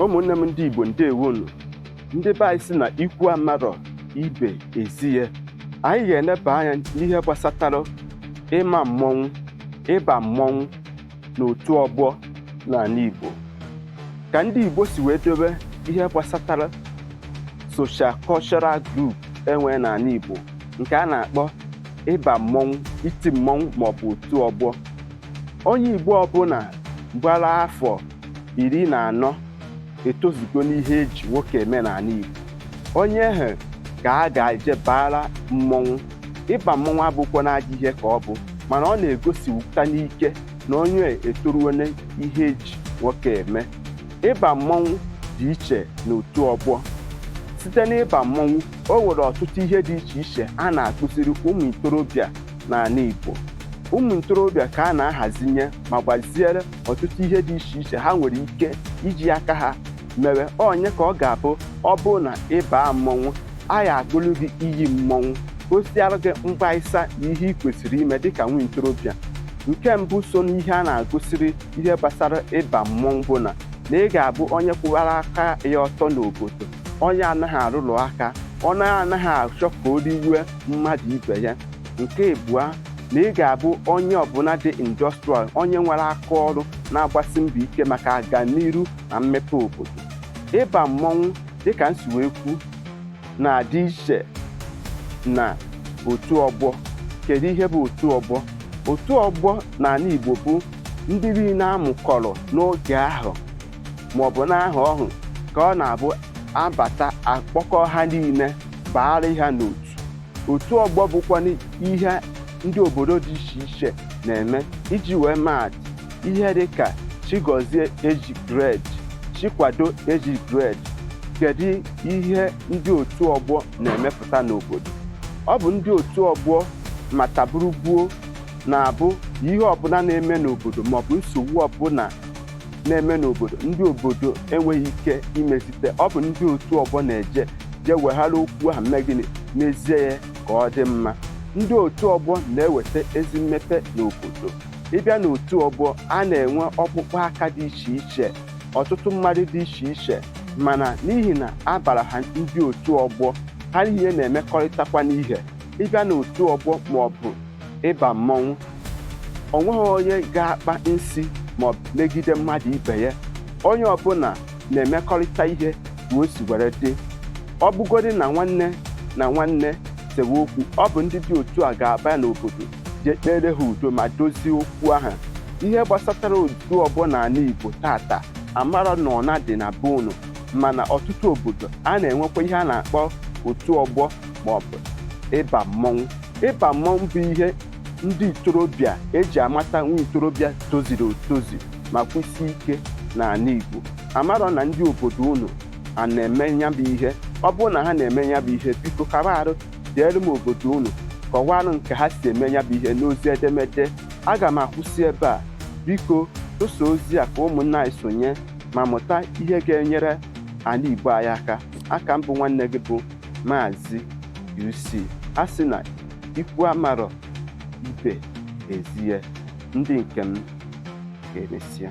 ụmụnne m ndị Igbo ndewonu ndị be anyị si na ikwu amarọ ibe ezie anyị ga-eleba anya n'ihe gbasatara ịma mmọnwụ ịba mmọnwụ na otu ọgbọ n'ala Igbo ka ndị Igbo si wee dobe ihe gbasatara social cultural group enwe n'ala Igbo nke a na-akpọ ịba mmọnwụ iti mmọnwụ maọbụ otu ọgbọ onye Igbo ọbụla gbara afọ iri na anọ etozugo n'ihe eji nwoke eme n'ala Igbo onye ahụ ka a ga-eje bara mmọnwụ ịba mmọnwụ abụkwa na ajọ ihe ka ọ bụ mana ọ na-egosiwụta n'ike na onye etoruone ihe eji nwoke eme ịba mmọnwụ dị iche na otu ọgbọ site n'ịba mmọnwụ o nwere ọtụtụ ihe dị iche iche a na-akụziri ụmụ ntorobịa n'ala Igbo ụmụ ntorobịa ka a na-ahazinye ma gbaziere ọtụtụ ihe dị iche iche ha nwere ike iji aka ha mewe onye ka ọ ga-abụ ọ bụrụ na ị baa mmọnwụ a ya agụlụ gị iyi mmọnwụ gosiara gị mgbaisa na ihe ị kwesịrị ime dịka nwa ntorobịa nke mbụ so n'ihe a na-akụziri ihe gbasara ịba mmọnwụ bụ na na ị ga-abụ onye kwụwara aka ya ọtọ n'obodo onye anaghị arụrụ aka onye anaghị achọ ka o riwe mmadụ ibe ya nke abụọ na ị ga-abụ onye ọbụla dị industrial onye nwere aka ọrụ na-agbasi mbọ ike maka aganiru na mmepe obodo ịba mmọnwụ dịka m si wee kwu na-adị iche na otu ọgbọ kedu ihe bụ otu ọgbọ otu ọgbọ n'ala Igbo bụ ndị niile amụkọrọ n'oge ahụ ma ọ bụ n'ahọ ahụ ka ọ na-abụ a bata a kpọkọ ha niile baara ha n'otu otu ọgbọ bụkwanụ ihe ndị obodo dị iche iche na-eme iji wee maatụ ihe dị ka Chigozie age grade Chikwado age grade kedu ihe ndị otu ọgbọ na-emepụta n'obodo ọ bụ ndị otu ọgbọ mataburugbuo na-abụ ihe ọbụla na-eme n'obodo maọbụ nsogbu ọbụla na-eme n'obodo ndị obodo enweghị ike imezite ọ bụ ndị otu ọgbọ na-eje jee weghara okwu ahụ mee gịnị mezie ya ka ọ dị mma ndị otu ọgbọ na-eweta ezi mmepe n'obodo ị bịa n'otu ọgbọ a na-enwe ọkpụkpọ aka dị iche iche ọtụtụ mmadụ dị iche iche mana n'ihi na a bara ha ndị otu ọgbọ ha niile na-emekọrịtakwanụ ihe ị bịa n'otu ọgbọ ma ọ bụ ịba mmọnwụ o nweghị onye ga-akpa nsi ma megide mmadụ ibe ya onye ọbụla na-emekọrịta ihe ka o si were dị ọ bụgodị na nwanne na nwanne sewe okwu ọ bụ ndị dị otu a ga-aba n'obodo jee kpere ha udo ma dozie okwu ahụ ihe gbasatara otu ọgbọ n'ala Igbo tata amara na ọ na-adị na be unu mana ọtụtụ obodo a na-enwekwa ihe a na-akpọ otu ọgbọ maọbụ ịba mmọnwụ Ịba mmọnwụ bụ ihe ndị ntorobịa eji amata nwa ntorobịa toziri otozi ma kwụsie ike n'ala Igbo amarọ na ndị obodo unu a na-eme ya bụ ihe ọ bụrụ na ha na-eme ya bụ ihe biko kaba arụ deere m obodo unu kọwaarụ nke ha si eme ya bụ ihe n'ozi edemede aga m akwụsị ebe a biko tụsa ozi a ka ụmụnna anyị sonye ma mụta ihe ga-enyere ala Igbo anyị aka aka m bụ nwanne gị bụ Maazị UC a sị na ikwu amarọ ibe ezie ndị nke m ka emesịa